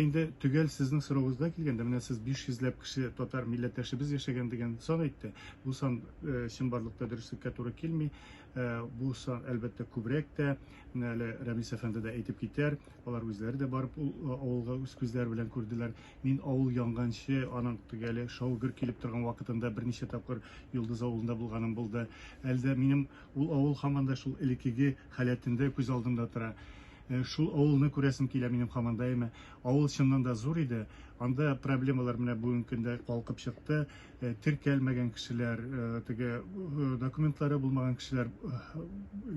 Инде төгәл сезнең сорауыгызга килгәндә, менә сез 500 ләп кеше татар милләттәшебез яшәгән дигән сан әйтте. Бу сан чынбарлыкта дөреслеккә туры килми. Бу сан, әлбәттә, күбрәк тә. Менә әле Рәмис әфәнде дә әйтеп китәр. Алар үзләре дә барып ул авылга үз күзләре белән күрделәр. Мин авыл янганчы, аның төгәле шау-гөр килеп торган вакытында берничә тапкыр Йолдыз авылында булганым булды. Әле дә минем ул авыл һаман да шул элеккеге халәтендә күз алдымда тора. Шул авылны күрәсем килә минем хаман даими. Авыл чыннан да зур иде. Анда проблемалар менә бүгенге көндә калкып чыкты. Теркәлмәгән кешеләр, теге документлары булмаган кешеләр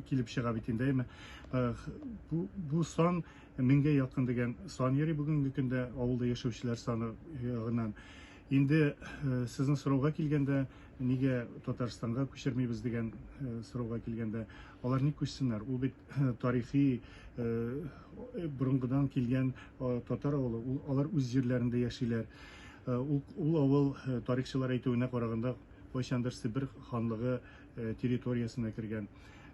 килеп чыга бит инде, әйме. Бу, бу сан меңгә якын дигән сан йөри бүгенге көндә авылда яшәүчеләр саны ягыннан. Инде сезнең сорауга килгәндә, нигә Татарстанга күчермибез дигән сорауга килгәндә, алар ник күчсеннәр? Ул бит тарихи борынгыдан килгән татар авылы, алар үз җирләрендә яшиләр. Ул авыл тарихчылар әйтүенә караганда, кайчандыр Себер ханлыгы территориясенә кергән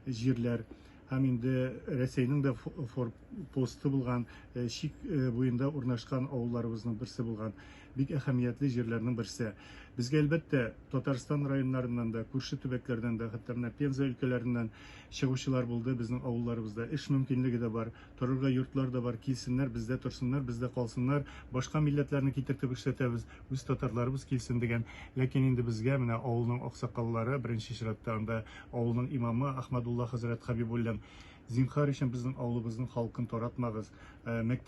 җирләр һәм инде Рәсәйнең дә форпосты булган, чик буенда урнашкан авылларыбызның берсе булган. Бик әһәмиятле җирләрнең берсе. Безгә, әлбәттә, Татарстан районнарыннан да, күрше төбәкләрдән дә, хәтта менә Пенза өлкәләреннән чыгучылар булды, безнең авылларыбызда эш мөмкинлеге дә бар, торырга йортлар да бар, килсеннәр, бездә торсыннар, бездә калсыннар, башка милләтләрне китертеп эшләтәбез, үз татарларыбыз килсен, дигән. Ләкин инде безгә менә авылның аксакаллары, беренче чиратта анда авылның имамы Ахмадулла хәзрәт Хәбибуллин, Зинһар өчен безнең авылыбызның халкын таратмагыз, мәктәп.